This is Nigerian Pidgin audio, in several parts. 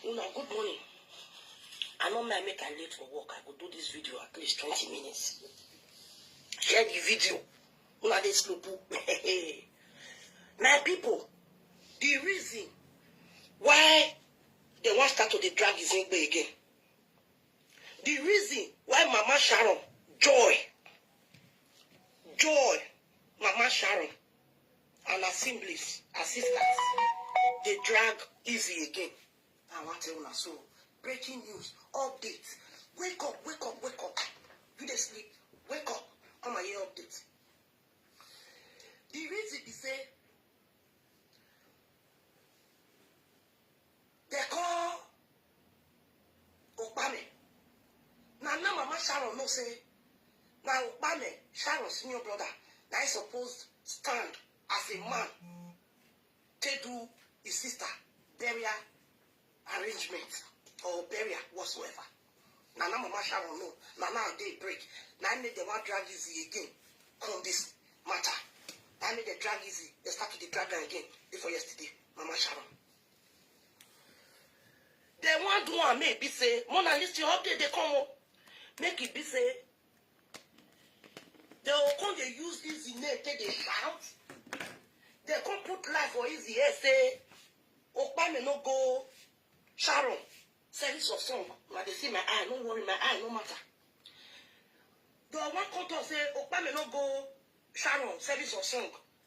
Una good morning. I no mind make I late for work. I go do this video at least twenty minutes. Share the video. Una dey slow poo. My people, the reason why they wan start to dey drag Izingbe again. The reason why Mama Sharon, Joy, Joy, Mama Sharon, And her siblings, her sisters, they drag easy again. I want to tell una so. Breaking news, update. Wake up, wake up, wake up. You dey sleep, wake up. Come and hear update. The reason be say They call Okpame. Now, now Mama Sharon no say, now Okpame, Sharon's senior brother, now he's supposed stand as a man to do his sister burial arrangement or burial whatsoever. Now, now Mama Sharon no, now now they break. Now I need the one drag easy again on this matter. I need the drag easy. They start to the drag again before yesterday. Mama Sharon. They want do am make be say Mona Lisa your update dey come o. Make it be say they will come dey use easy name take dey shout. They come put life for easy head say Okpame no go Sharon service of song. Una dey see my eye, no worry, my eye no matter. They wan come talk say Okpame no go Sharon service of song.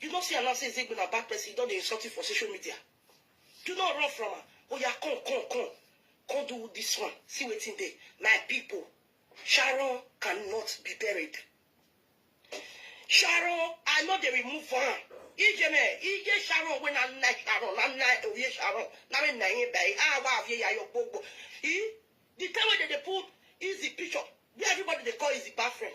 You no see am now say Ezegbe na bad person, he don dey insult you for social media. Do not run from am, oya come come come come do this one, see wetin dey. My people, Sharon cannot be buried. Sharon, I no dey remove am. Ije me, ije Sharon wey na nna Sharon, na nna oye Sharon, na me nna ye by awa avye ya yo gbogbo. E, the time wey dem dey put Izzy picture, where everybody dey call Izzy bad friend.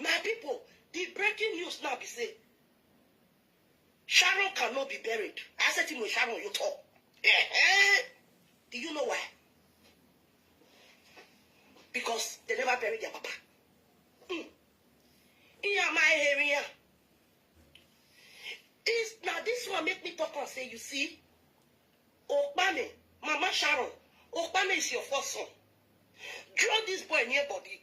My pipo, di breaking news now be say Sharon can no be buried, ase ti mo Sharon yo tọ. Do you know why? Because they never buried their papa. Mm. Iya my area. This now this one make me talk and say, you see, Okpame, Mama Sharon, Okpame is your first son. Draw this boy near body.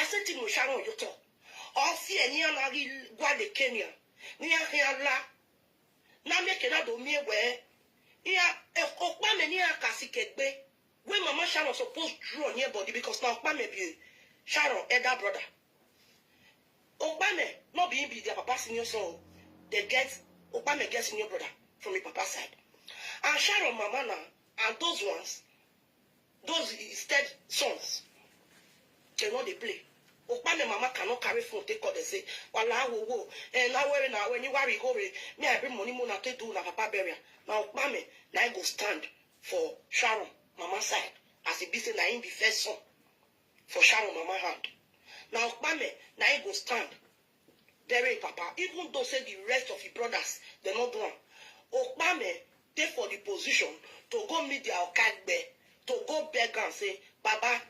Ase ti mo sha wan yotọ, ọ si ẹni ana ri gua le kenia, nia khian la, na mie ke na do mie wẹ-ẹ, nia okpa mẹ nia ka si kẹ gbe, wẹ mama Sharon suppose draw near body because na okpa mẹ be Sharon elder brother, okpa mẹ nor be him be their papa senior son o, they get okpa mẹ get senior brother from him papa side and Sharon mama na and those ones Those his step sons, dem no dey play. Okpame mama cannot carry phone take call dem say, Walaa wo wo, eh na were na were ni wari go re, me I bring money mo na take do una papa burial. Na Okpame na him go stand for Sharon mama side as e be say na him be first son for Sharon mama hand. Na Okpame na him go stand bury im papa even though say di rest of im brodas dem no do am. Okpame dey for di position to go meet dia oka gbe, to go beg am say, Baba,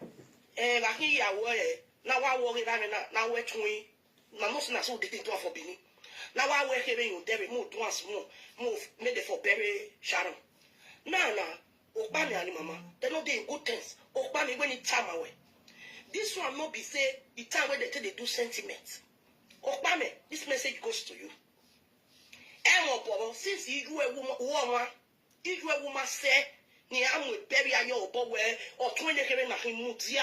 eh, na hin iyawo eh, na wa wo rera re na, na we tun hin, una know say na so we dey take do am for Benin, na wa we here re yon dere, mo do am small, mo, make dem for bury Sharon. Now na. Okpami and mama, they no dey in good things. Okpami when he time away. This one no be say the time when they take they do sentiment. Okpami, this message goes to you. Emo bobo, since you a woman, woman, you a woman say, ni amu bury ayo obo we, or twenty kere na himutia.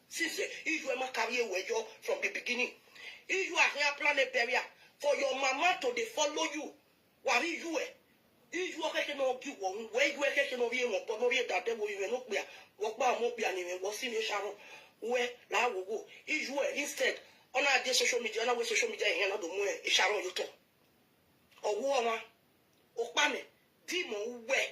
Sisi, if your mama carry away your from the beginning, if you are here plan a barrier for your mama to dey follow you, worry you eh. If you are keke no give one, where you are keke no be one, but no be that devil you no be a, walk by mo be an even was in Sharon, where la wo go. If you are instead, on our day social media, on our social media, and another more Sharon you talk. Or woman, or panic, demon, where.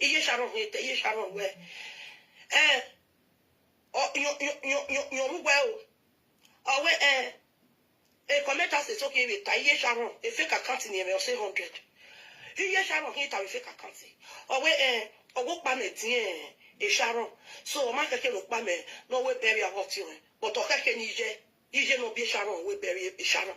iye sharon ni te iye sharon we eh o yo yo yo yo yo mu we o o we eh e comment as so ke we ta iye sharon e fake account ni me o say 100 iye sharon ni ta we fake account o we eh o wo pa me tin eh e sharon so o ma ke ke lo pa me no we bury a hot you but o ke ke ni je ije no bi sharon we bury e sharon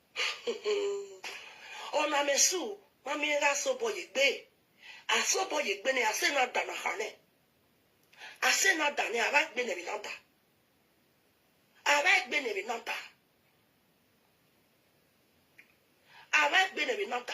Ona me su ma mi ra so bo ye gbe. A so bo ye gbe ne a se na da na ha ne. A se na da ne a ra gbe ne mi na da. A ra gbe ne mi na da. A ra gbe ne mi na da.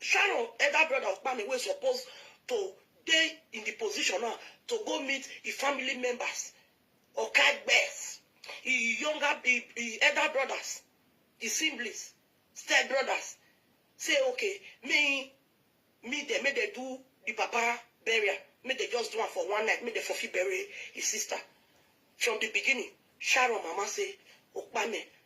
Sharon, elder brother of Kpame wey suppose to dey in di position now to go meet im family members, Oka Gbess, im younger, im im elder brothers, im siblings, step brothers, say okay make im meet dem, make dem do di papa burial, make dem just do am for one night, make dem for fit bury im sister. From di beginning, Sharon mama say, Okpame,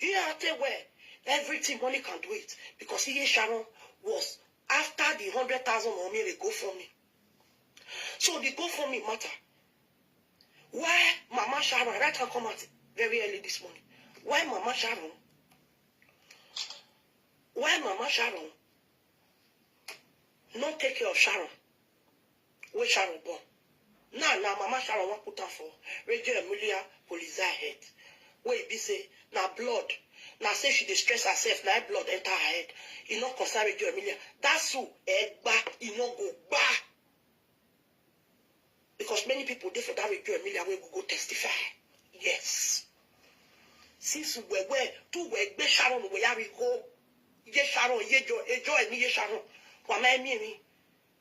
You have to wear everything money can do it because Iye Sharon was after the hundred thousand or mere go for me. So the go for me matter. Why Mama Sharon right hand come out very early this morning? Why Mama Sharon? Why Mama Sharon? Not take care of Sharon. wey Sharon born, now na mama Sharon wan put am for Radio Emilia Polizia head wey e be say na blood, na say she dey stress herself na im blood enter her head, e no concern Radio Emilia, that su egba e no go gba because many people dey for that Radio Emilia wey go go testify, yes si su wewe tu we egbe Sharon we ya ri go ye Sharon ye jo ejo emi ye Sharon wa ma emi emi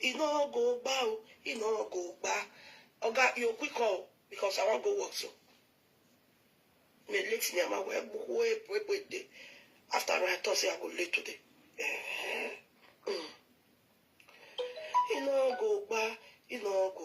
e no go gba o e no go gba oga you quick call because i wan go work so me late ni ama wee gbukwu wee pụọ ekwe de after i talk say i go late today e no go gba e no go